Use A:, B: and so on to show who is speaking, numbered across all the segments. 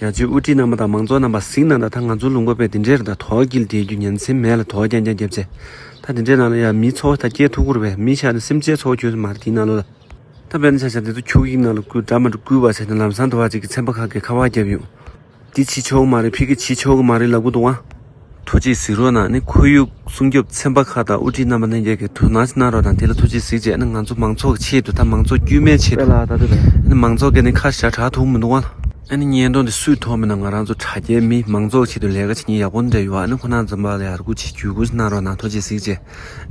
A: རྒྱ་མཚོའི་དབུ་ཁྲིད་རྣམ་པ་དང་མང་ཚོགས་རྣམ་པ་གཟིགས་གནང་དང་ད་ང་ཚོ་ལུང་པ་པས་འདི་འདྲའི་རི་དྭགས་དོག་གིལ་དེའི་རྒྱུ་ཉན་སེམས་མེད་ལ་དོག་ཀྱང་ཀྱང་བརྒྱབ་ཚེ། ད་འདི་འདྲའི་ནང་ལ་ཡང་མིའི་འཚོ་བ་དང་སྐྱེས་ཐོབ་འཁུར་བས་མིའི་ཆ་ནས་སེམས་ཅན་འཚོ་བ་ཁྱོད་སུ་མ་རེད་དེའི་ནང་ལོ་ལ། ད་བོད་ན་ཆ་ཆ་འདི་ཚོ་ཁྱུག་ཡིག་ནང་ལ་བསྐུར་དགྲ་མ་འདྲུ་བསྐུལ་བ་བྱས་ནས་ལམ་སང་དུ་བ་གཅིག་གི་ཚན་པ་ཁག་གིས་ཁ་བ་བརྒྱབ་ཡོང། འདི་བྱིས་ཆོག་གི་མ་རེད་ཕི་གི་བྱིས་ཆོག་གི་མ་རེད་ལབ་གི་འདུག་ཨ། ཐུགས་རྗེས་གཟིགས་རོགས་གནང་ནི་ཁོར་ཡུག་སྲུང་སྐྱོབ་ཚན་པ་ཁག་དང་དབུ་ཁྲིད་རྣམ་པ་རྣམས་ཀྱིས་གྱི་དོན་གནང་གནང་རོགས་དང་དེ་ལ་ཐུགས་རྗེས་གཟིགས་བྱས་ནི་ང་ཚོ་མང་ཚོགས་ཀྱི་ཆེད་དུ་དང་མང་ཚོགས་དཀྱུས་མའི་ཆེད་དུ་ནི་མང་ཚོགས་ཀྱི་ནི་ཁ་བྱ་གྲགས་ཐུག་མི་འདུག་བ། ཨ་ནི་བརྙན་ཐུང་འདི་སུས་མཐོང་མིན་ན་ང་རང་ཚོ་དྲ་རྒྱའི་མི་མང་ཚོགས་ཆེད་དུ་ལས་ཀ་བྱེད་ཉིན་ཡག་པོ་འདྲ་ཡོད་ཨ་ནི་ཁོ་ནང་འཛོམས་པ་ལ་ཡར་སྐུལ་བྱེད་རྒྱུ་གུས་གནང་རོགས་གནང་ཐུགས་རྗེས་གཟིགས་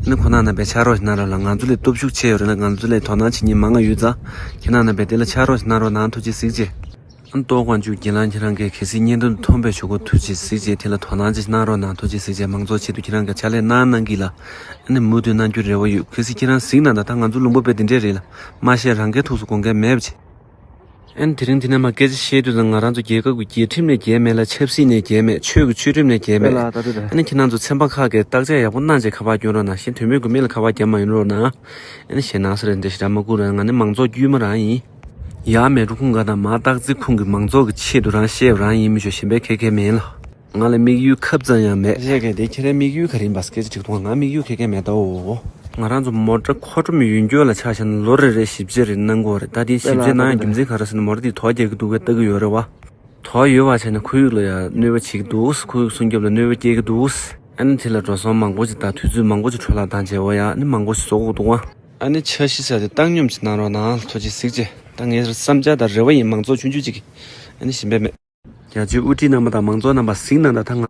A: བྱས་ནི་ཁོ་ནང་རྣམ་པས་ཕྱག་རོགས་གནང་རོགས་གནང་ང་ཚོ་ལས་སྟོབས་ཤུགས་ཆེ་ཡོད་རེད་ད་ང་ཚོ་ལས་དོ་སྣང་བྱེད་ཉིན་མང་ང་ཡོད་ཙང་ཁྱེད་རང་རྣམ་པས་དེ་ལ་ཕྱག་རོགས་གནང་རོགས་གནང་ཐུགས་རྗེས་གཟིགས་བྱས། ཏོག་དབང་ཕྱུག་རྒྱལ་ལགས་ཁྱེད་རང་གིས་གལ་སྲིད་བརྙན་ཐུང་དུ་མཐོང་པའི་ཆོས་འཁོར་ཐུགས་རྗེས་གཟིགས་རྗེས་དེ་ལ་དོ་སྣང་ཅིག་གནང་རོགས་གནང་ཐུགས་རྗེས་གཟིགས་རྗེས་མང་གཙོ་ཆེད་དུ་ཁྱེད་རང་གི་ཕྱག་ལས་གནང་གནང་གི་ལ་ཨ་ནི་མུ་མཐུད་གནང་རྒྱུར་རེ་བ་ཡོད་གལ་སྲིད་ཁྱེད་རང་གཟིགས་གནང་ད་ད་ང་ཚོ་ལུང་པ་པའི་དེ་འདྲས་རེད་ལ་མ་བཤད་རང་སྐལ་ཐུགས་སུ་དགོངས་སྐལ་མེད་བྱས། ཨ་ནི་དེ་རིང་དེ་ནས་མ་སྐད་ཆ་བཤད་དུས་ད་ང་རང་ཚོ་རྒྱལ་ཁབ་ཀྱི་རྒྱལ་ཁྲིམས་ནས་རྒྱལ་མེད་ལ་ཆབ་སྲིད་ནས་རྒྱལ་མེད་ཆོས་ཀྱི་ཆོས་ཁྲིམས་ནས་རྒྱལ་མེད་ཨ་ནི་ཁྱེད་རང་ཚོ་ཚན་པ་ཁག་གིས་བརྟག་དཔྱད་ཡག་པོ་གནང་རྗེས་ཁ་པར་བསྐྱོན་རོགས་གནང་གཞན་དོན་མེད་དགོས་མེད་ལ་ཁ་པར་བརྒྱབ་མ་ཡོང་རོགས་གནང་ཨ་ནི་ཞེད་སྣང་སེ་རེ་འདི་ཞེ་དྲག་མ་སྐུར་ཨ་ནི་ང་ནི་མང་ཚོགས་དཀྱུས་མ་རང་ཡིན། ཡང་མལ་གྲོ་ཁུང་འགའ་དང་མ་བརྟག་རྩིས་ཁུངས་ཀྱི་མང་ཚོགས་ཀྱི་ཆེད་དུ་རང་ཤེས་རང་ཡིན་མི་ཆོག་ཞེན་པའི་ཁེར་ཁེར་མིན་ལ། ང་ལ་དམིགས་ཡུལ་ཁབ་ཙམ་ཡང་མེད། རེད་གལ་ཏེ་ཁྱེད་རའི་དམིགས་ཡུལ་ག་རེ་ཡིན་པ་སྐད་ཆ་དྲིས་ཐོག་ང་དམིགས་ཡུལ་ཁེར་ཁེར་མེད་དོ། ང་རང་ཚོ་མོ་ཏྲ་ཁོ་ཏྲོམ་ཡུན་སྐྱོད་ལ་ཆགས་ཞེན་ན་ལོ་རེ་རེར་ཞིབ་དཔྱད་རེ་གནང་དགོས་རེད་ད་དེ་ཞིབ་དཔྱད་གནང་ཡང་རྒྱུ་མཚན་ག་རེ་བཟོས་ན་མོ་ཏྲ་འདིས་དོགས་རྒྱག་གི་འདུག་བས་ལྟ་གི་ཡོད་རེད་བ། དོགས་ཡོད་བ་བྱས་ན་ཁོར་ཡུག་ལ་ཡང་གནོད་པ་བྱེད་ཀྱི་འདུག་ཁོར་ཡུག་སྲུང་སྐྱོབ་ལ་གནོད་པ་སྐྱེལ་གྱི་འདུག། ཨ་ནི་དེ་ལ་འགྲོ་སོང་མང་པོ་ཞིག་དང་དུས་ཚོད་མང་པོ་ཞིག་འཕྲོ་བརླག་དང་བྱེད་དབང་ཡང་ནི་མང་པོ་ཞིག་བཟོ་དགོས་འདུག་བ། ཨ་ནི་འཆར་གཞི་བྱས་ཏེ་བཏང་སྙོམས་ཀྱི་གནང་རོགས་གནང་ལྷོ་སྤྱི་གཟིགས་ཀྱི་ད་ངའི་བསམ་འཆར་དང་རེ་བ་ཡིན་མང་ཚོགས་ཆུང་ཆུང་གཅིག་གིས་ཨ་ནི་ཞིམ་པའི་མེ། རྒྱ་ཆེའི་དབུ་ཁྲིད་རྣམ་པ་དང་མང་ཚོགས་རྣམ་པ་གཟིགས་གནང་དང་ད་ང།